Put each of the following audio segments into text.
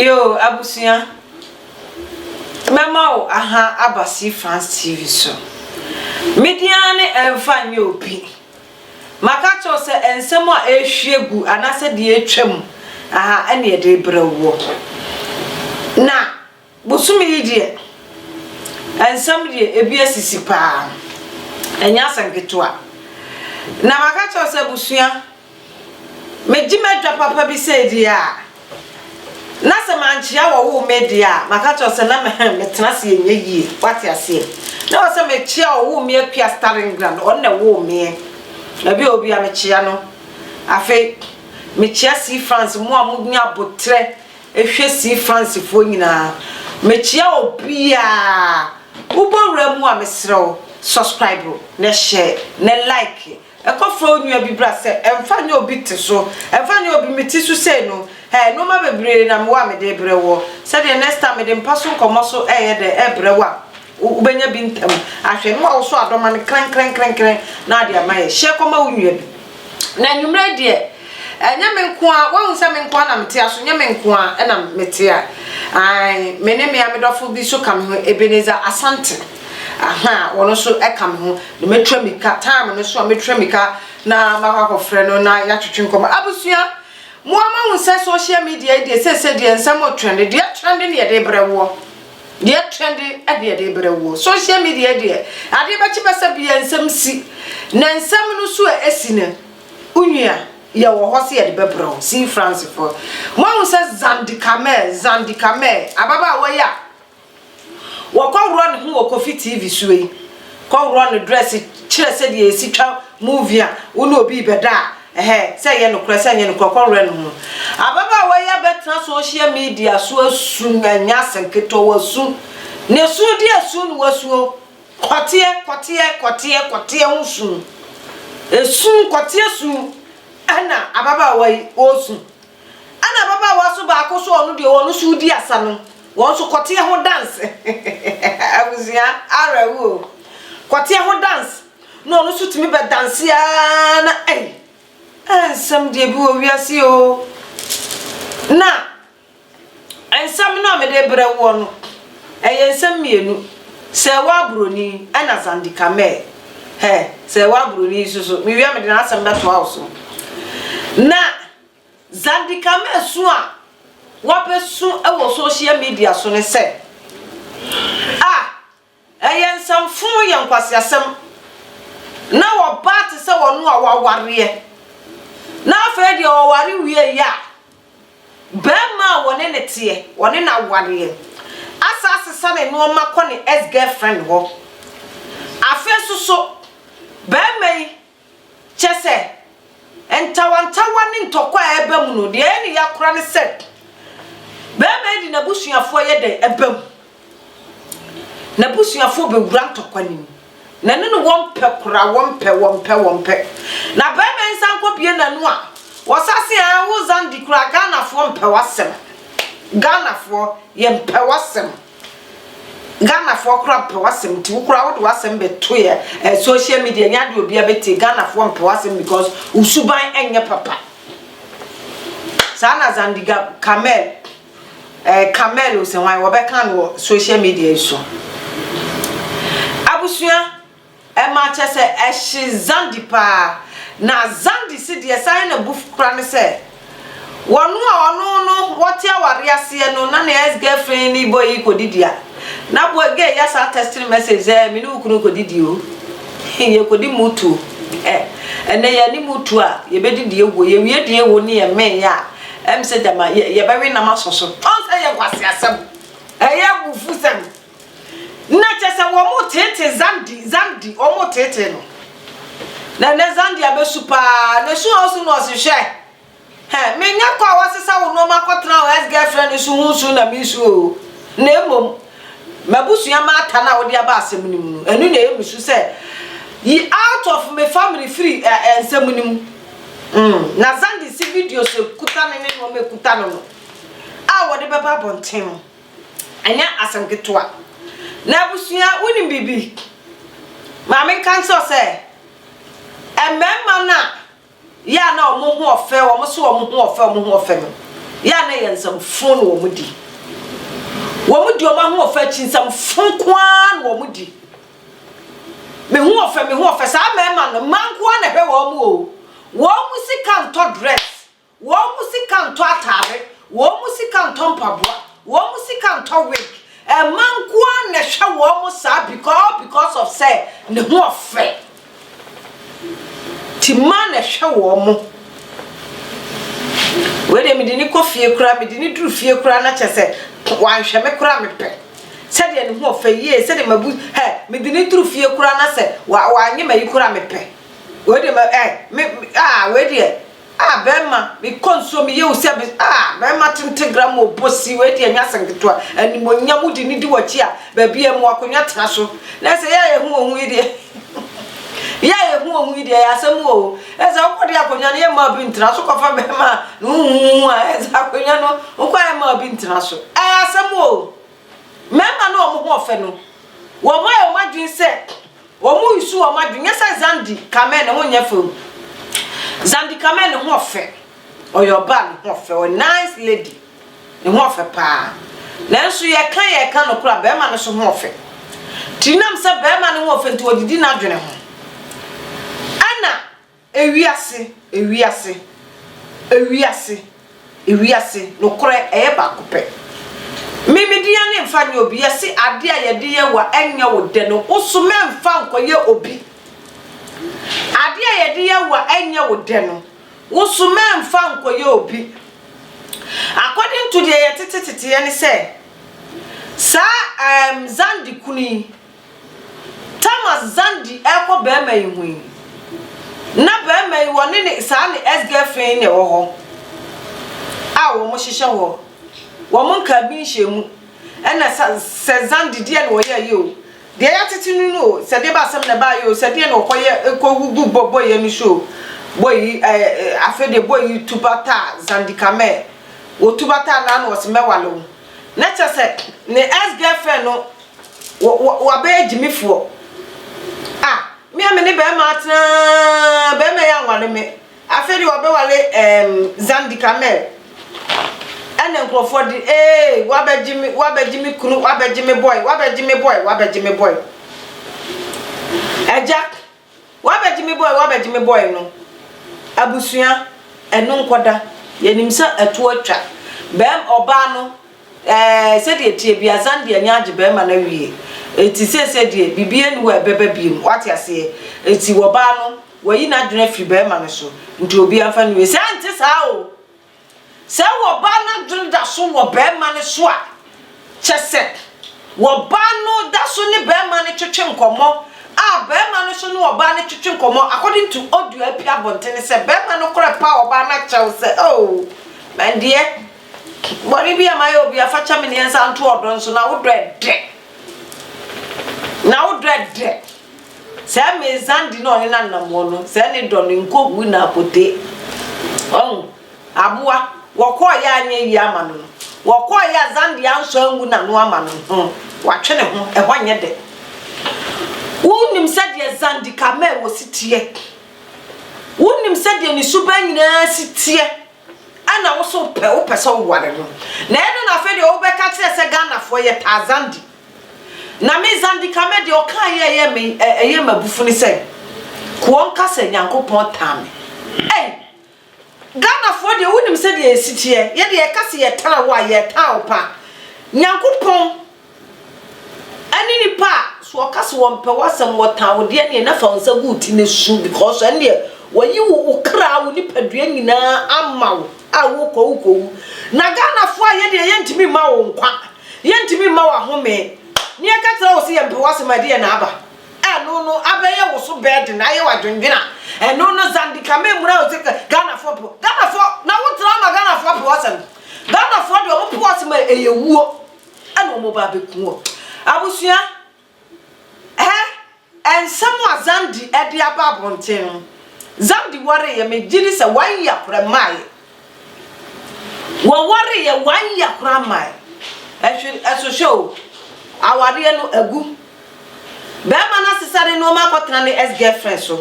Yoo abusua mɛma wo aha aba si France TV so media ne ɛmfa nyɛ obi maka kyɛw sɛ nsɛm a ɛrehwie gu anaasɛ deɛ atwam aha ɛne ɛde brɛ woɔ na Bosome yi deɛ nsɛm deɛ ebi asisi paa ɛnyɛ asɛm ketewa na maka kyerɛ sɛ abusua megye m'adwa papa bi sɛ deɛ a na sɛ mankyea wɔwo me deɛ a maka kyerɛ sɛ na mɛhɛn metena ase ɛnyɛ yie wate aseɛ na wɔ sɛ mekyea ɔwo me apia starting ground ɔno na ɛwo meɛ ɛbi a obi a mekyea no afei mekyea si France mo a mo nya abotrɛ Hwɛ see Francefoɔ nyinaa. Mekyia obiaa. Wobɔ wura mu a mesrɛ wo subscribe na share na like. Kɔ frɛ wo nua bi bra sɛ ɛmfa nyɛ obi te so. Ɛmfa nyɛ obi me ti so sei no eh nnoɔma bebree na mewɔ a mede brɛ woɔ. Sɛdeɛ next time mede mpa so nkɔmmɔ so ɛyɛ dɛn ɛbrɛ wo a. Wobɛnya bi ntɛm ahwɛ no a wosɔ adɔma no krenkrenkrenkren na ade ama yɛ. Hyɛ kɔma wo nua bi. Na anwummerɛ yi deɛ, ɛnyɛ me nko ara, woahu sɛ me nko ara na mete aso, nyɛ me nko ara na mete a. Ae, me ne me amedɔfo bi nso ka me ho, Ebenezer Asante. Ahaa, ɔno nso ka me ho. Na mɛtua mmirika, time no so a, mɛtua mmirika na makɔ akɔfrɛ no na yɛatwetwe nkɔmmɔ. Abusua, mo ara moahu sɛ social media yi deɛ, seesei deɛ nsɛm retrɛnde. Deɛ ɛtrɛnde no na yɛde rebrɛ woɔ. Deɛ twɛde ɛde ɛde brɛ woɔ. Social media deɛ adeɛ bɛkye bɛsɛ bia nsɛm si na nsɛm no so a ɛsi no wonua yɛ wɔ hɔ sɛ yɛde bɛbrɛ wo see France fɔ moahu sɛ Zandi Kamel Zandi Kamel ababaawa yi a wɔkɔ worɔ ne ho wɔ Kofi TV so yi kɔ worɔ ne dress kyerɛ sɛ deɛ ɛsi twa movie a wo ne obi bɛda a Ɛhɛ, sɛ ɛyɛ nokorɛ, sɛ ɛnyɛ nokorɛ, kɔ werɛ no ho. Ababaawa yi abɛtena social media so asu no, ɛnyɛ ase nketewa, wasu. Ne su de asu no wasuo. Kɔteɛ, kɔteɛ, kɔteɛ, kɔteɛ ho su. Esu, kɔteɛ su ɛna ababaawa yi ɔresu. Ɛna ababaawa so baako so ɔno deɛ wɔn so redi asa no, wɔn nso kɔteɛ ho dance. Abusua, awerɛhoɔ o. Kɔteɛ ho dance. Na ɔno nso tumi bɛ danse ara na ei, eh nsɛm deɛ bi wɔ wiase yi oo. Na nsɛm no a mede rebrɛ woɔ no, ɛyɛ nsɛm mmienu, sɛ ɛwɔ aburoni ɛna Zandi Kamel. Hɛ, sɛ ɛwɔ aburoni yi so so, mewie a mede n'asɛm bɛtoa wo so. Na Zandi Kamel su a wabɛsu wɔ social media so ne sɛ, ah, Ɛyɛ nsɛm funu yɛ nkwaseasɛm na wɔba te sɛ wɔn a wɔawareɛ na afei deɛ wɔware wieeɛ a barima a wɔne ne teɛ wɔne no awareɛ asa asesa ne nnoɔma kɔ ne ex girlfriend hɔ afei nso so barima yi Kyerɛ sɛ, ntawantawa ne ntɔkwa a ɛba mu no, deɛ ɛyɛ no ya koraa ne sɛ barima yi de n'abusuafoɔ yɛ dɛn? Ɛba mu. N'abusuafoɔ bɛwura ntɔkwa no mu. Na ɛno ne wɔmpɛ koraa, wɔmpɛ, wɔmpɛ, wɔmpɛ. Na barima yi nsa nkɔbue n'ano a, wɔsa se aa wo Zandi koraa, Ghanafoɔ mpɛ w'asɛm. Ghanafoɔ, yɛmpɛ w'asɛm. Ghanafoɔ koraa mpɛ w'asɛm nti wo koraa wode w'asɛm bɛto yɛ eh, social media nyɛ adeɛ obiara bɛtie Ghanafoɔ mpɛ w'asɛm because wo suban nyɛ papa saa na Zandiga Kamel eh, Kamel Osehwan wɔbɛka no wɔ social media yi so abusua Ɛma kyɛ sɛ ɛhye Zandi paa. Na Zandi se deɛ ɛsan yɛ no abu kora ne sɛ, wɔno a ɔno no wɔte awareɛ aseɛ no na ne ex girlfriend ne boy yi kɔdidi a, na boy gay yi asan text no message sɛ me ne wo kunu rekɔdidi o, yɛkɔdi mutu ɛ, ɛnɛ yɛanni mutu a yɛbɛdidi awuo, yɛwie die wɔ ne yɛmee a, ɛm sɛ gyama yɛbɛwe nam asɔ so. Ɔhu sɛ ɛyɛ nkwaseasɛm, ɛyɛ abufusɛm. Na kyɛ sɛ wɔteetee Zandi, Zandi, wɔteetee no. Na na Zandi abɛsu paa, na su a ɔsu no ɔse, Hwɛ, hɛ, menyɛ kɔ a woasesa wo nnoɔma akɔtena wo ex-girlfriend no so ho su na meresu oo, na mmom m'abusua m'ata no a wode aba asɛm no mu no, ɛno na ɛyɛ me su sɛ yi out of me family firi ɛ, nsɛm no mu. Mm, na Zandi se videos a ɛkuta no ne nnoɔma a ɛkuta no no a wɔde bɛba abɔnten no, Ɛnyɛ asɛm ketewa. Na abusua, wonim biribi? Ma menka nkyerɛ wo sɛ, mmarima no a yɛ a na wɔn ho ɔfɛ, wɔn so wɔn ho ɔfɛ, wɔn ho ɔfɛ no, yɛ a na ɛyɛ nsɛmfo na wɔn di. Wɔn di wɔn ahoɔfɛ akyi, nsɛmfo nko ara na wɔn di. Me ho ɔfɛ, me ho ɔfɛ. Saa mmarima no, mmaa nko ara na ɛhwɛ wɔn o. Wɔn sika ntɔ dress. Wɔn mu sika ntɔ atade, wɔn mu sika ntɔ mpaboa, wɔn mu sika ntɔ wig. Mma nko ara na ɛhwɛ wɔn saa beca all because of sɛ ne ho ɔfɛ. Nti mma na ɛhwɛ wɔn. Wei deɛ mede ne kɔ fie koraa, mede ne duru fie koraa na kyɛ sɛ wanhwɛ me koraa mepɛ. Sɛdeɛ ne ho ɔfɛ yie, sɛdeɛ mabu hɛ, mede ne duru fie koraa na sɛ wa wanyɛ ma yi koraa mepɛ. Wei deɛ ma ɛ me ah wei deɛ Ah bɛrima me kɔ nsuo me yɛ wo sɛ me ah bɛrima tente gra ma ɔbɔ si wei deɛ nyɛ asɛm ketewa animonyam wodi ne di wakyi a baabi a mu akonnwa tena so na sɛ yɛ a yɛhu wɔn ho yi deɛ yɛ a yɛhu wɔn ho yi deɛ yɛ asɛm o ɛsɛ wokɔ de akonnwa no yɛ mmaa bi ntena so kɔfa bɛrima a ne ho hu a ɛsɛ akonnwa no wokɔ yɛ mmaa bi ntena so ɛyɛ asɛm o. Mmarima no a wɔn ho yɛ fɛ no, wɔayɛ wɔn adwene sɛ wɔresusu wɔn adwene. Nyɛ sɛ Zandi Kamel ne ho nyɛ fɛ o. Zandi Kamel ne ho yɛ fɛ. Ɔyɛ ɔbaa ne ho yɛ fɛ. Ɔyɛ nice lady. Ne ho yɛ fɛ paa. Nanso yɛka yɛka nokorɛ a, barima no nso ho yɛ fɛ. Nti nam sɛ barima no ho yɛ fɛ nti ɔdidi n'adwene ho. Ɛna. Ewiase, ewiase, ewiase, ewiase, nokorɛ ɛyɛ baako pɛ. Me me dea ne nfa nyɛ obi, yɛse adeɛ a yɛde yɛ wa ɛnyɛ wo dɛ no wo so mɛ nfa nkɔ yɛ obi. Adeɛ a yɛde yɛ wa ɛnyɛ wo dɛ no wo so mɛ nfa nkɔ yɛ obi. According to deɛ yɛtete teteɛ ne sɛ saa ɛɛm Zandi kunu yi. Tamas zan di ɛkɔ bɛɛma yi ho yi na bɛɛma yi wɔne ne saa ne ex girlfriend yi na ɛwɔ hɔ a wɔn hyehyɛ hɔ wɔn nkaa bi nhyɛ mu ɛna sa sɛ zan di deɛ na wɔyɛ yɛ o deɛ yatete no no o sɛ deɛ ba asɛm na ɛbaa yɛ o sɛ deɛ na wɔkɔ yɛ ɛkɔ hu gu bɔ bɔ yɛ no so o bɔ yi ɛɛ afei deɛ bɔ yi tuba taa zan di kamɛ wɔ tuba taa naa na wɔsi mɛwale wo na kyɛ sɛ ne ex girlfriend no Wɔ wɔ wabɛyɛ gyimifoɔ. Ah me a me ne bɛɛma atena bɛɛma yi anwale me afei de wabɛwale ehm Zandi Kamel ɛna nkurɔfoɔ de ee wabɛgye me wabɛgye me kunu wabɛgye me boy wabɛgye me boy wabɛgye me boy agya W'abɛgye me bɔe w'abɛgye me bɔe no abusua ɛno nkɔda yɛnim sɛ ɛto atwa bɛɛm ɔbaa no ɛɛ sɛdeɛ ɛteɛ bia zan deɛ ani agye bɛɛma no awie ɛti seesei deɛ biribi ɛni hɔ a ɛbɛba biem wate aseɛ ɛti ɔbaa no wayi n'adwene afiri bɛɛma no so nti obiara mfa nwie saa ɛnte saa o Sɛ ɔbaa no adwene da so wɔ barima no so a, kyɛ sɛ ɔbaa no da so ne barima no twetwe nkɔmmɔ a barima no nso ne ɔbaa no twetwe nkɔmmɔ according to audio a apue abɔntene sɛ barima no kora pa ɔbaa no akyɛw sɛ oh my deɛ bɔne bi a mayɛ obi afa kyɛ me ne nsa nto ɔdɔ nso na wodɔ ɛdɛ na wodɔ ɛdɛ Sɛ me nsa di na ɔhene anammɔn no, sɛ ne dɔ no nkogu n'abotee. Wahu? Aboa, wɔkɔɔeɛ a anyɛ yie ama no no, wɔkɔɔeɛ a Zandi ansɔ angu n'ano ama no no, hmm, watwe ne ho, ɛhɔ nyɛ dɛ. Wonim sɛdeɛ Zandi Kamau si teɛ? Wonim sɛdeɛ ne suban nyinaa si teɛ? Ɛna wo so pɛ wo pɛ sɛ wo ware no na ɛno na afei deɛ wo bɛ ka kyerɛ sɛ Ghana foɔ yɛ taa Zandi na me Zandi Kame deɛ ɔkaa yɛ ɛyɛ me ɛyɛ ma bufu ne sɛ koɔ nka sɛ Nyankopɔn taa me ɛy Ghana foɔ deɛ wo nim sɛ deɛ yɛ si teɛ yɛ deɛ yɛ ka sɛ yɛ taa wo a yɛ taa wo paa Nyankopɔn Ɛne nnipa a so wɔka se wɔmpɛ w'asɛm, wɔtan wo deɛ neɛ na fa wo nsa gu wo ti na su because ɛne deɛ wɔayi wo wo kra, wo nipadua nyinaa ama wo a wokɔ a wokɔwu. Na Ghanafoɔ a yɛdeɛ yɛntumi mma wo nkwa, yɛntumi mma wo ahome, na yɛka kyerɛ wo se yɛmpɛ w'asɛm a ɛdeɛ na aba ɛno no abɛyɛ wo so burden, ayɛ wo adwendwene a ɛno no Zandika memmra wo se Ghanafoɔ mpɛ Ghanafoɔ na wotra ama Ghanafoɔ apɛ w'asɛm. Ghanafoɔ deɛ wɔpɛ w'asɛm a ɛyɛ wuo. ɛna ɔmo ba abɛku wɔ abusua hɛ ɛnsɛm a zandi ɛde aba abɔnten no zandi wareeɛ megyedi sɛ wayi akora mmaeɛ wɔwareeɛ wayi akora mmae ɛhwe ɛsohwɛ o awareɛ no agu bɛrima no asesa ne nneɛma akɔtena ne ex girlfriend so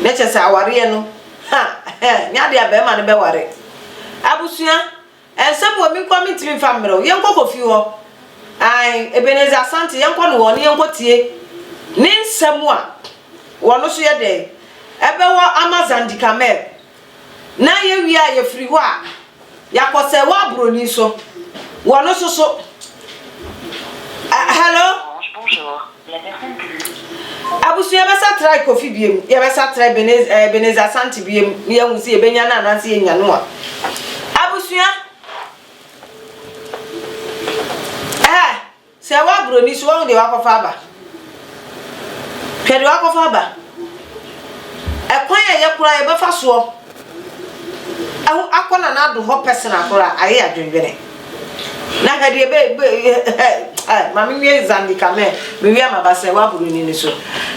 ne kyɛ sɛ awareɛ no ha nyɛ adeɛ a bɛrima no bɛware abusua Ɛnsɛm wɔ menkoa mentimi mfa mmerɛ wo yɛnkɔ Kofi hɔ ae Ebenezer Asante yɛnkɔ no hɔ ne yɛnkɔ tie ne nsɛm a wɔno so yɛ dɛn ɛbɛwɔ ama Zandi Kamel na yɛwie a yɛfiri hɔ a yɛakɔ sɛ wɔ abroni so wɔno so so hello. Abusua bɛsa trae Kofi biom, yɛbɛsa trae Benez, eh, Benez Asante biom na yɛahu sɛ yɛbɛnya no anaasɛ yɛnya no a. Abusua, eh, sɛ ɛwɔ aburoni so, wɔn deɛ wakɔfa aba. Hwɛ deɛ wakɔfa aba. Ɛkwan a ɛyɛ koraa yɛbɛfa soɔ Ɛho akɔ na n'ado hɔ personal koraa ayɛ adwendwene. Na hwɛ deɛ be be eh ma me nwie Zandi ka mɛ me wia ma ba sɛ wa buru ni ne so.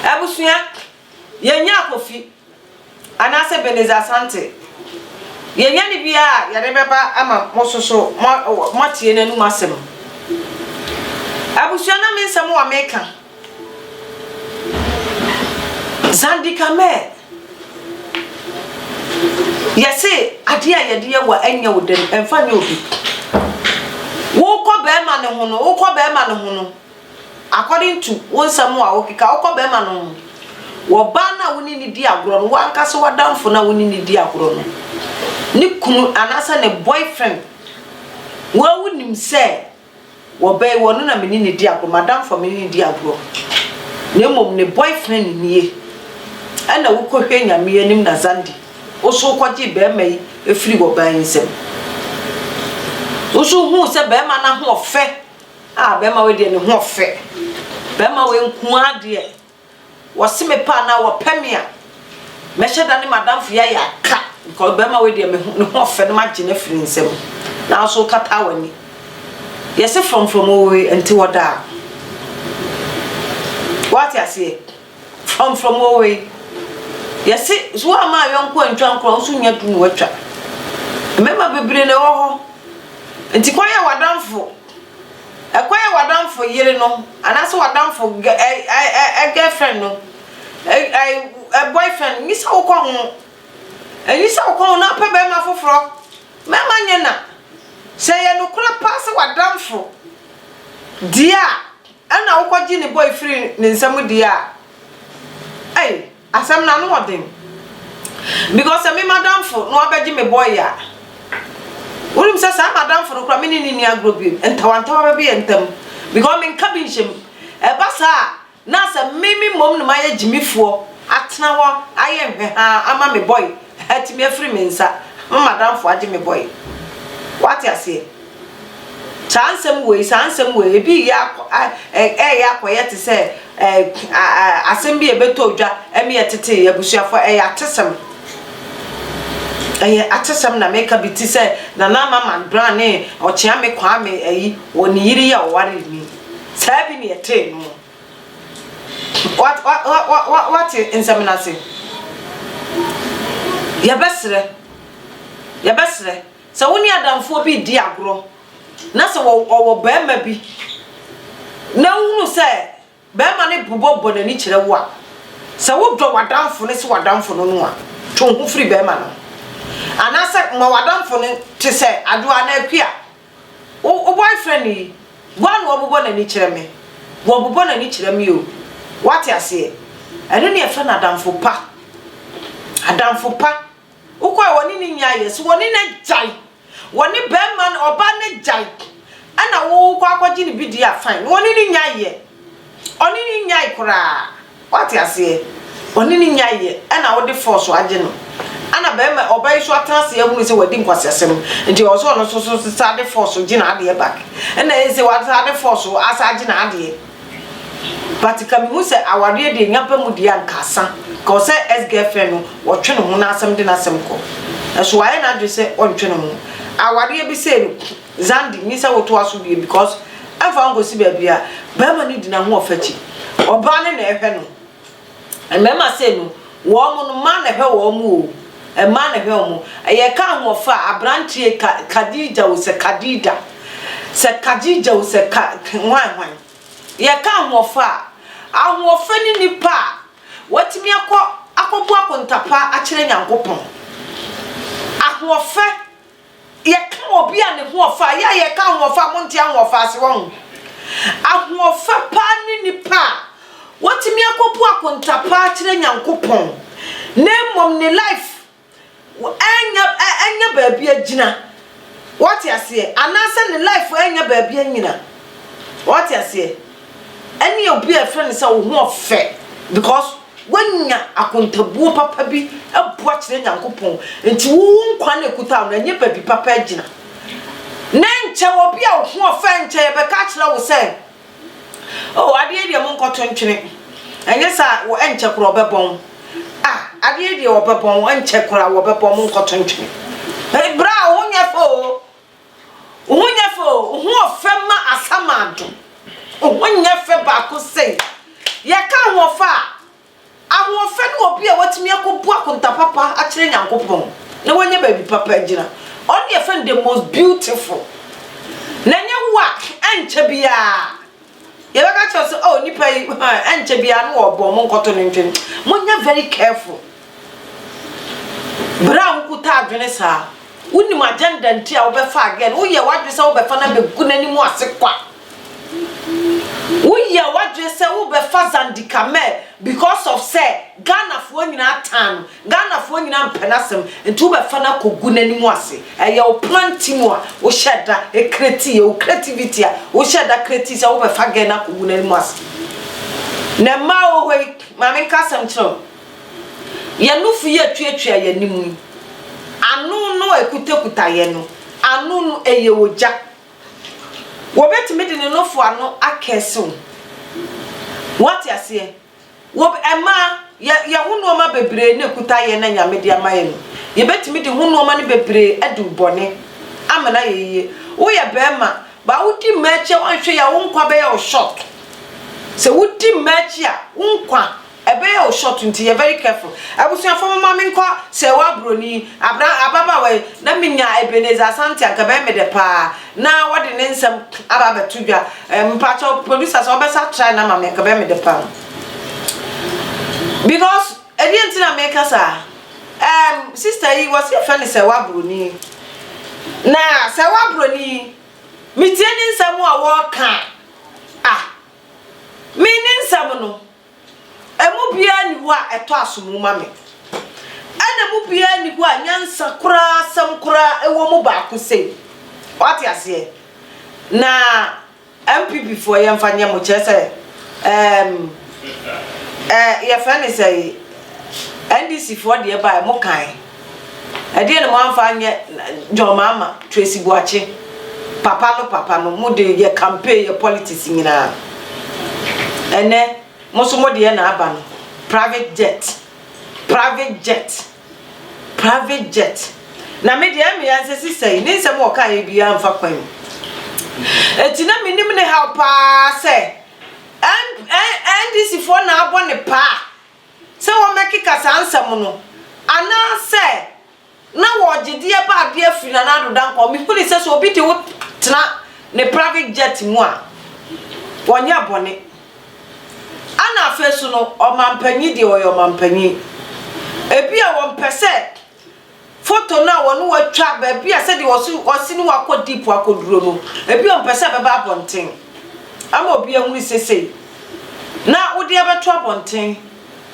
Abusua yɛ nya Kofi anaa sɛ Beneza Asante yɛ nya ne bia a yɛ de bɛ ba ama mo soso mo atie n'anum asɛm. Abusua na me nsɛm a me ka. Zandikameɛ, yɛse adeɛ a yɛde yɛ wa ɛnyɛ wo dɛ ɛmfa nyɛ obi. Wokɔ bɛɛma no ho no, wokɔ bɛɛma no ho no, according to wo nsɛm a wokeka, wokɔ bɛɛma no ho, wɔ baa no a wo ne no di agorɔ no, wankasa w'adamfo no a wo ne no di agorɔ no, ne kunu anaasɛ ne boyfriend, woaa wonim sɛ. Wɔ bɛ yi wɔ no na me ne no di agorɔ, m'adamfo a me ne no di agorɔ, na mmom ne boyfriend nie. Ɛna wo kɔ hwɛ Nyame anim na Zandi wo so wo kɔ gyee bɛɛma yi firi wɔ baa yi nsam. Wo so huu sɛ bɛɛma no ahoɔfɛ, ah bɛɛma wei deɛ ne hoɔfɛ, bɛɛma wei nkoaa deɛ. Wɔse me paa anaa wɔpɛ me a Mɛhyɛ da ne m'adamfo yɛayɛ aka Nka ɔbarima wei deɛ meho ne ho ɔfɛ no magye no afiri ne nsam Nanso wokataa w'ani Yɛse frɔmfrɔm owoe ɛnte hɔ daa Woate aseɛ? Frɔmfrɔm owoe Yɛse sɛ woamma ayɔnko antwa nkorɔ a wo nso nnya du na woatwa Mmarima bebree na ɛwɔ hɔ Nti kɔyɛ w'adamfo Ɛkwan a w'adamfo yere no anaasɛ w'adamfo gɛ ɛ ɛ ɛ ɛ girlfriend no ɛ ɛ ɛ boyfriend nyi sɛ wokɔ ho. Enyi sɛ wokɔ ho na wopɛ barima foforɔ. Mmarima nyɛ na. Sɛ ɛyɛ nokorɛ paa sɛ w'adamfo deɛ a ɛna wokɔgye ne bɔ firi ne nsam deɛ a, ei. Asɛm no ano wɔ den because sɛ me madamfo na wabɛgye me boy a, wonim sɛ saa madamfo no koraa me ne no nni agorɔ bio, ntawantawa bɛba yɛn ntam because menka bi nhyɛ mu. Ɛba saa a, na sɛ me me mmom na mayɛ gyimifoɔ atena hɔ ayɛ nhwɛhaa ama me boy. Atumi afiri me nsa. Me madamfo agye me bɔe. Woate aseɛ? Saa nsɛm wei, saa nsɛm wei, ebi reyɛ akɔ, ɛreyɛ akɔyɛ te sɛ asɛm bi a ɛbɛtɔ odwa ɛne yɛ tete abusuafoɔ, ɛyɛ atesɛm. Ɛyɛ atesɛm na meka bi te sɛ Nana Ama Manbrah ne Ɔkyeame Kwame ayi, wɔ ne yere yi a ɔwaree ni. Saa bi na ɛtee no. Wat wa wa wa wa wate nsɛm no ase. Yɛbɛsrɛ, yɛbɛsrɛ sɛ wo ne adamfoɔ bi redi agorɔ na sɛ wɔ ɔwɔ barima bi na wohunu sɛ barima no bobɔ bɔ n'ani kyerɛ wo a, sɛ wodɔ w'adamfo no sɛ w'adamfo no no a, twe wo ho firi barima no ho. Anaasɛ ma w'adamfo no te sɛ Adwoa anaa Akua. Wo wo boyfriend yi, woa na ɔbobɔ n'ani kyerɛ me. Ɔbobɔ n'ani kyerɛ me o. Woate aseɛ? Ɛno na yɛfrɛ no adamfo pa. Adamfo pa. Wokɔ a wɔne no nyɛ ayɛ. So wɔne no agyae? Wɔne barima no, ɔbaa no agyae. Ɛna wokɔ akɔgye no bi deɛ a, fine. Wɔne no nyɛ ayɛ. Ɔne no nyae koraa. Wate aseɛ? Ɔne no nyaeɛ ɛna wode force agye no. Ɛna bɛɛma, ɔba yi so atena ase ahunu sɛ wadi nkwaseasɛm nti ɔwɔ sɛ ɔno nso so san de force gye n'adeɛ back. Ɛna ɛyɛ sɛ wasan de force asan agye n'adeɛ. But ka mehu sɛ awareɛ deɛ nya ba mu deɛ a nka asa. Nka ɔsɛ ex girlfriend no ɔtwe ne ho n'asɛm de n'asɛm kɔ. Nanso wayɛ n'adwene sɛ ɔntwe ne ho. Awareɛ bi sei no. Zandi, nye sɛ wotoa so wie because ɛmfa ho kosi baabi a, barima no gyina ho ɔfakyi. Ɔbaa no na ɛhwɛ no. Mmarima sei no, wɔn mo no, mmaa na ɛhwɛ wɔn mo o. Mmaa na ɛhwɛ wɔn mo. Yɛka ahoɔfɛ a, abranteɛ ka, Kadija o, sɛ Kadija. Sɛ Kadija o, sɛ ka, hwan hwan. Yɛka ahoɔfɛ a, ahoɔfɛ ne nipa a watumi akɔ, akɔbo akontapa akyerɛ Nyankopɔn. Ahoɔfɛ. Yɛka obi a ne hoɔfa a, yɛ a yɛka ahoɔfa a, monte ahoɔfa ase, wahu? Ahoɔfa paa ne nipa a watumi akɔbu akonta paa akyerɛ Nyankopɔn, na mmom ne life ɛnyɛ ɛnyɛ baabi agyina, wate aseɛ, anaasɛ ne life ɛnyɛ baabi anyina, wate aseɛ, ɛne obi a yɛfrɛ no sɛ wo hoɔfɛ, because. Woanya akontabuo papa bi abu akyerɛ Nyankopɔn, enti wo wo nkwa na ɛkuta wo no, ɛnyɛ baabi papa agyina. Ne nkyɛ obi a ɔhoɔfɛ nkyɛ yɛ bɛka akyerɛ wo sɛ, Oh, adeɛ yi deɛ monkɔto ntwene, ɛnyɛ saa a, ɛnkyɛ koraa ɔbɛbɔ mo. Ah, adeɛ yi deɛ ɔbɛbɔ mo, ɛnkyɛ koraa ɔbɛbɔ mo, monkɔto ntwene. Berɛ a wo nyɛ fɛ o. Wo ho nyɛ fɛ o, wo ho ɔfɛ ma asamado. Wo ho nyɛ fɛ baako sei. Yɛka ahoɔfɛ a, ahoɔfɛ ne obi a watumi akɔbu akonta papa akyerɛ Nyankopɔn na wanya baabi papa agyina. Ɔno ne yɛfɛ no the most beautiful. Na nyɛ wo a, ɛnkyɛ biara. Yɛbɛka kyerɛ wo sɛ, oh, nipa yi, ɛnkyɛ biara no wɔbɔ mo nkɔto no ntwam. Monyɛ very careful. Berɛ a wokuta adwene saa, wonim agenda nti a wobɛfa agɛ no, woyɛ w'adwene sɛ wobɛfa no abɛgu n'anim ase kwa. Woyɛ w'adwene sɛ wobɛfa Zandikame because of sɛ Ghanafoɔ nyinaa taa no, Ghanafoɔ nyinaa mpɛ n'asɛm nti wobɛfa no akɔgu n'anim ase. Ɛyɛ wo planti mu a wohyɛ da kreti, ɛyɛ wo kretiviti a wohyɛ da kreti sɛ wobɛfa gɛɛ no akɔgu n'anim ase. Na mmaa wɔ hɔ yi, ma menka asɛm nkyerɛ wo, yɛn nufu yi a ɛtuatua yɛn anim yi, ano no a ɛkutakuta yɛn no, ano no ɛyɛ ogya. Wɔbɛtumi de ne nofo ano akɛɛse wo. Woate aseɛ? Wɔ ɛma yɛ yɛ ho nnoɔma bebree ne kutaeɛ na Nyame de ama yɛ no, yɛbɛtumi de ho nnoɔma no bebree adi wo bɔne. Amena yɛ yie. Wo yɛ bɛɛma, baa wo di mmaa akyi a woanhwɛ yie a wo nkwa bɛyɛ wo short. Sɛ wo di mmaa akyi a wo nkwa ɛbɛyɛ wo short nti yɛ very careful. Abusuafoɔ momma me nkɔ sɛɛwaa broni, abra ababaawa yi na me nya Ebenezer Asante anka ɛbɛyɛ me dɛ paa. Na wɔde ne nsɛm aba abɛto dwa. Ɛɛ mpatsɔ producer sɛ ɔbɛsa try no ama me nka bɛyɛ me de paa. Because ɛdeɛ nti na meka saa. Ɛɛ sister yi wɔsi yɛfɛ ne sɛwa broni. Na sɛwa broni yi metie ne nsɛm a wɔka a. Ah me ne nsɛm no. Emu biara nni hɔ a ɛtɔ asomu ma me, ɛna emu biara nni hɔ a nyansa koraa, asɛm koraa wɔ mu baako sei. Wate aseɛ? Na NPP foɔ yɛmfa nyɛ mo kyerɛ sɛ ɛɛm ɛɛ yɛfrɛ ne sɛn NDC foɔ deɛ baeɛ mokae. Ɛdeɛn na moamfa anyɛ John Mahama, Tracy Boakye, papa no papa no mode yɛ campaign yɛ politics nyinaa. Ɛnɛ mo nso modeɛ na aba no private jet private jet private jet na me deɛ ɛmea nsɛ sisɛi ne nsɛm ɔkaeɛ biara mfa kwan mu. Ɛti na menim ne haw paa sɛ NDC foɔ na abɔ ne paa sɛ wɔmmɛkeka saa nsɛm no, anaasɛ na wɔregye deɛ ɛba adeɛ afiri Nana Addo Dankwa. Mehunii sɛ sɛ obi de wo tena ne private jet mu a, ɔnyɛ bɔne. Ɛna afei nso no, ɔmampanyin deɛ, ɔyɛ ɔmampanyin. Ebia wɔmpɛ sɛ. Photo no a wɔne wo atwa baabi a sɛdeɛ ɔse ɔse ne wakɔ deep akɔduro no ebi ɔmpɛ sɛ ɛbɛba abɔnten ama obi ahunu sesei na wode abɛto abɔnten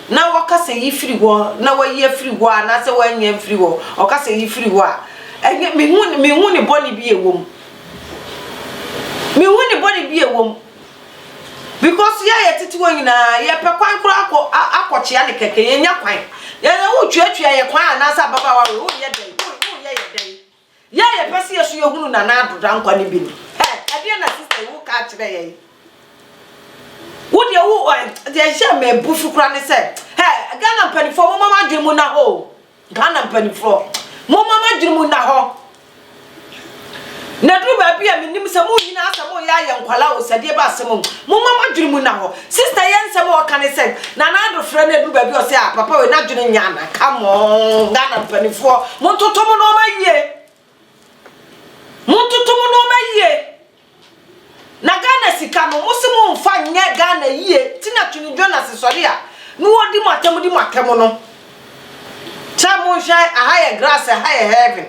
na wɔka sɛ yi firi hɔ na wayi afiri hɔ a anaasɛ wanya mfiri hɔ ɔka sɛ yi firi hɔ a ɛnyɛ mehu mehu ne bɔne bi ɛwom mehu ne bɔne bi ɛwom Because yɛ yɛ tete wɔ nyinaa yɛ pɛ kwan koro akɔ akɔ kyea ne kɛkɛ yɛ nya kwan yɛ yɛ wo twɛ twɛ yɛ kwan anaasɛ ababa wa wo yɛ dɛ wo yɛ yɛ dɛ yɛ yɛ pɛ si yɛ so yɛ hunu na na adodra nkwa ne bi no ɛ ɛdeɛ na sista yi wo ka kyerɛ yɛ wo deɛ wo ɛ deɛ hyɛ mɛ busu kura ne sɛ ɛ Ghana mpanimfoɔ mo mama adwene mu na hoo. Ghana mpaninfoɔ momma mo adwene mu nna hɔ na duru baabi a menim sɛ mo nyinaa sɛ mo yɛ ayɛ nkwalaa o sɛdeɛ ba asɛm mu momma mo adwene mu nna hɔ sister yɛ nsɛm a ɔka ne sɛ nana ado frɛ no aduru baabi ɔsɛ a papa wei n'adwene nyɛ ana come on Ghana mpaninfoɔ montoto mo nɔɔma yie Montoto mo nnoɔma yie na Ghana sika no mo se mo nfa nyɛ Ghana yie ti na Twene Jonas sɔre a na ɔdi mo atɛm di mo atɛm no sɛ monhwɛ aha yɛ grass aha yɛ heaven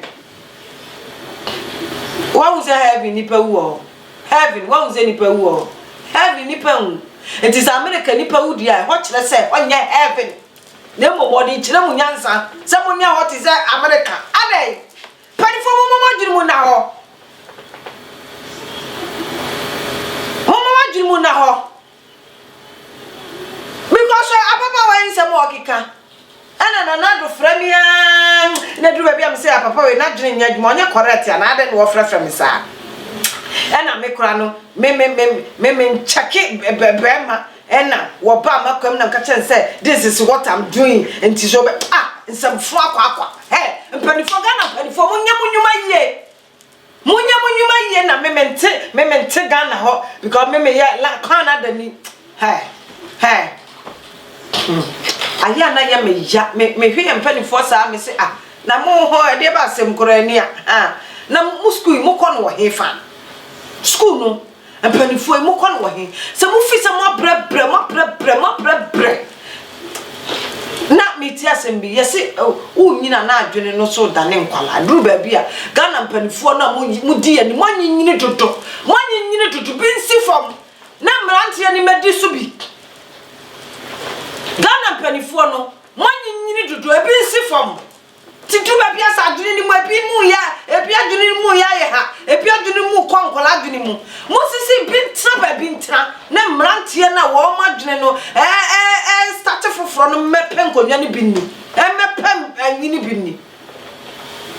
wahu sɛ heaven nipa wu wɔ hɔ heaven wahu sɛ nipa wu wɔ hɔ heaven nipa nwu nti sɛ America nipa wu di a ɛhɔ kyerɛ sɛ ɔnyɛ heaven Na mmom wɔde kyerɛ mo nyansa sɛ mo nna hɔ te sɛ Amerika. Adɛn? Mpanimfoɔ momma mo adwene mu nna hɔ. Momma mo adwene mu nna hɔ. Because sɛ ababaawa yi nsɛm a ɔkeka ɛna Nana Addo frɛ me aa na duru baabi a me sɛ ah papa wei n'adwene nyɛ adwuma ɔnyɛ correct anaa adɛn na wɔfrɛfrɛ me saa. Ɛna me koraa no me me me me me nkyɛke bɛrima Ɛna wɔbaa m'akwam na wɔka kyerɛɛ no sɛ this is what I'm doing nti sɛ wobɛ ah nsɛmfua kwakwa hey mpanimfoɔ Ghana mpanimfoɔ mo nyɛ mo nnwuma yie mo nyɛ mo nnwuma yie na me mente me mente Ghana hɔ because me meyɛ la Canada ni hey hey hmm. ayɛ a na yɛ me ya me mehwɛ yɛ mpanimfoɔ saa me se ah na mo hɔ ɛdeɛ ba asɛm koraa ni a ah na mo sukuu yi mo kɔ no wɔ hefa sukuu no Mpaninfoɔ yi, mo kɔ no wɔ he? Sɛ mo fi sɛ mo abrɛ brɛ, mo abrɛ brɛ, mo abrɛ brɛ. Na me ti asɛm bi, yɛ se wo nyina na adwene no so da ne nkwala. Duru baabi a, Ghana mpaninfoɔ no a mo di yɛ ni, mo anyi nyini dodo, mo anyi nyini dodo, bi nsi fam, na mmeranteɛ ni mɛ di so bi. Ghana mpaninfoɔ no, mo anyi nyini dodo, ebi nsi fam. Ti du baabi a sɛ adwene no mu a, ebi mu yɛ, ebi adwene no mu yɛ ayɛ ha, ebi adwene no mu kɔ nkwadaa adwene mu. Mosisi bi ntena baabi ntena na mmeranteɛ no a wɔn adwene no ɛrestate foforɔ no mmɛpɛ nkonnwa no bi nni, mmɛpɛ ayi no bi nni.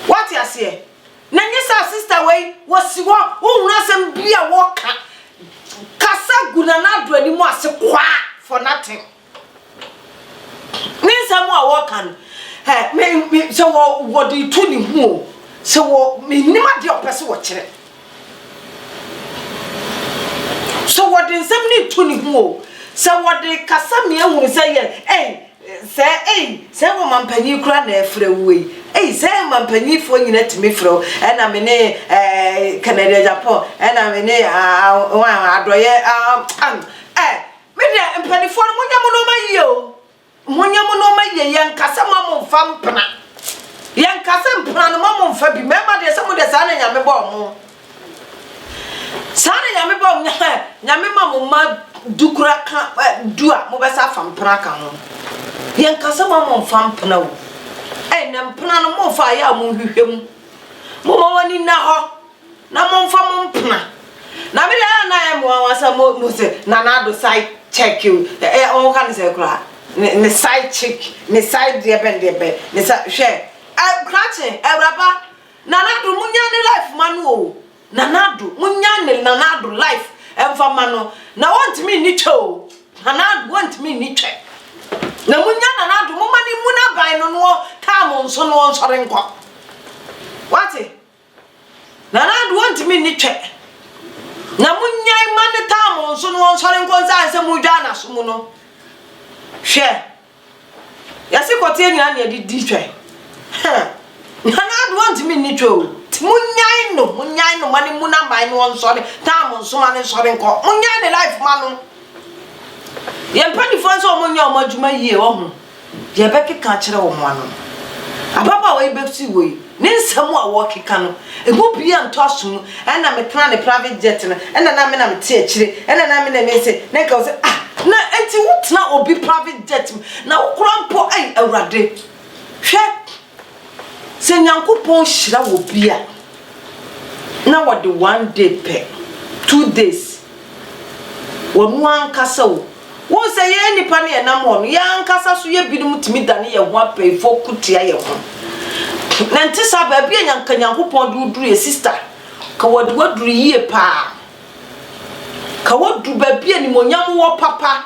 Wate aseɛ? Na nyɛ sɛ asista wei wɔsi hɔ, wohunu asɛm bi a wɔka, kasa gu Nana Addo anim ase kwaa for nothing. Ne nsɛm a wɔka no, ɛ me me sɛ wɔ wɔde tu ne ho o, sɛ wɔ menim adeɛ a ɔpɛ sɛ wɔkyerɛ. Sɛ wɔde nsɛm no tu ne ho o, sɛ wɔde kasa me ahunu sɛ yɛ ei sɛ ei sɛ wɔ mampanyin kura na ɛfrɛ wo ei ei sɛ mampanyinfoɔ nyina tumi frɛ wo ɛna me ne ɛɛ Canada Japan ɛna me ne adɔyɛ ɛ Me deɛ mpanifoɔ no monyɛ mo nnoɔma yie o monyɛ mo nnoɔma yie yɛnka sɛ ma mo mfa mpena yɛnka sɛ mpena no ma mo mfa bi mmarima deɛ sɛ mo deɛ saa na nyame bɔ ɔmo saa na nyame bɔ ɔmo nyame ma mo ma du kura ka du a mobɛsa afa mpena ka ho yɛnka sɛ ma mo mfa mpena o ɛnɛ mpena no mo mfa ayɛ a mo hwehwɛ mu mo ma wɔn ani na hɔ Na momfa mo mpena. Na me deɛ na ɛyɛ mmoa wa sɛ mo mo sɛ nana ado side check you ɛ ɛ wɔn ka ne sɛ koraa ne ne side chick ne side deɛ bɛn deɛ bɛn ne sa hwɛ ɛ krakye awuraba nana ado mo nya ne life ma no o nana ado mo nya ne nana ado life ɛnfa ma no na wɔntumi ni twɛ o nana ado wɔntumi ni twɛ na mo nya nana ado mo ma ne mu n'aban no no taa mo nso no wɔnsɔre nkɔ wate. Nana Addo ɔntumi nni twɛ na mo nyae ma ne taa mo nso no ɔnsɔre nkɔ nsa ansɛ mo dwaa naso mu no hwɛ yɛse kɔteɛ nyina ne yɛde di twɛ Nana Addo ɔntumi nni twɛ o ti mo nyae no mo nyae no ma ne mu na man no ɔnsɔre taa mo nso ma ne nsɔre nkɔ mo nyae ne life ma no yɛn mpanifoɔ nso ɔmo nyɛ ɔmo adwuma yie wɔ ho Deɛ ɛbɛkeka akyerɛ wɔn ano no, ababaawa yi bɛsi wɔ yi, ne nsɛm a wɔkeka no, ɛmu biara ntɔ aso mu. Ɛna me tena ne private jet no, ɛna na me na me te akyire, ɛna na me na me se, na nka ɔse, ah, na ɛnti wo tena obi private jet mu, na wo kora mpo, ei, Awurade, hwɛ. Sɛ Nyankopɔn hyira obi a, na wɔde one day pɛ, two days, wɔno ankasa o, wohu sɛ yɛn nnipa no yɛnam hɔ no, yɛn ankasa so yɛ binom tumi dane yɛn ho apayifoɔ ko tia yɛn ho. Na nte saa baabi a nyanka Nyankopɔn de woduru yɛ sista, ka wɔde waduru yie paa, ka wadu baabi a nimonyam wɔ papa.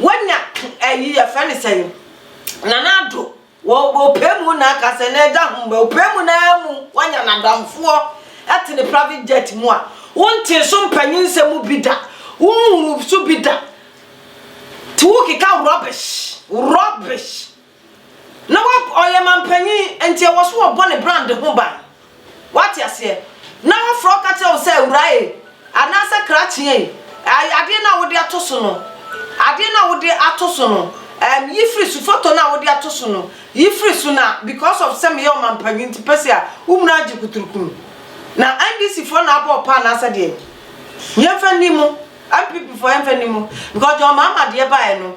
Wanya ayi yɛfrɛ ne sɛn nana ado wɔ ɔpɛ mu na aka sɛ na ɛda ho mba ɔpɛ mu na mu wanya n'adamfoɔ ɛte ne private jet mu a wontee so mpanyin nsɛm bi da wonhunu so bi da ti wokeka rubbish rubbish Na wa ɔyɛ manpanyin nti ɛwɔ so ɔbɔ ne brand ho ban. Wate aseɛ? Na ɔfrɛ wo ka kyerɛ wo sɛ awura e, anaasɛ krakye e, ɛɛ adeɛ no a wode ato so no, adeɛ no a wode ato so no, ɛɛm yi firi so, photo no a wode ato so no, yi firi so na because of sɛ meyɛ ɔmanpanyin nti pɛsi a wo munu agye kuturukunu. Na NDC foɔ na abɔ wo paa anaasɛ deɛn? Yɛmfa nni mu, NPP foɔ yɛmfa nni mu because deɛ ɔmaama deɛ baeɛ no,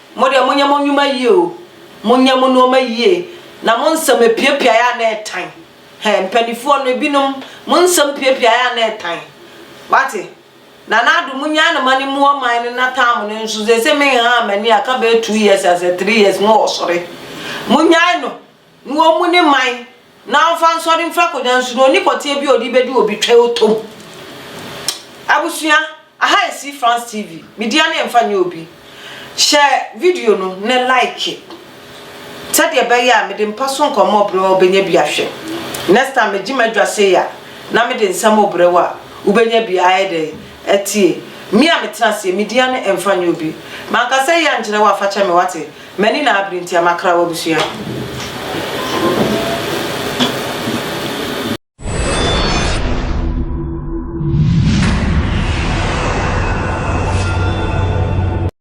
Mo deɛ monyɛ mo nwuma yie o, monyɛ mo nnoɔma yie na mo nsɛm apiapiaeɛ a na ɛtan. Hɛ, mpaninfoɔ no, ebinom, mo nsɛm piapiaeɛ a na ɛtan. Wate? Nana Addo, monyaa no ma no mmu ɔman no na tam no nso, seesei menhaa m'ani a, aka bɛyɛ two years asɛ three years, mowɔ sɔre. Monyae no. Na ɔmmu ne man, na ɔmfa nsɔre mfra kogya nsu, na ɔnni pɔteɛ bi a ɔde bɛdi obi twɛ ɔtɔ mu. Abusua, aha yɛ See France TV, me dea no yɛmfa nyɛ obi. Hyɛ video no ne like, sɛdeɛ ɛbɛyɛ a mede mpa so nkɔmmɔ ɔbrɛ wo a wobɛnya bi ahwɛ. Next time megye m'adwa sei a, na mede nsɛm ɔbrɛ wo a wobɛnya bi ayɛ dɛn atie. Me a metena aseɛ, me dea no ɛmfa nyɛ obi. Manka sɛ yei ankyerɛ wo a fa kyɛ me wate, M'ani na abere nti a makra w'abusua.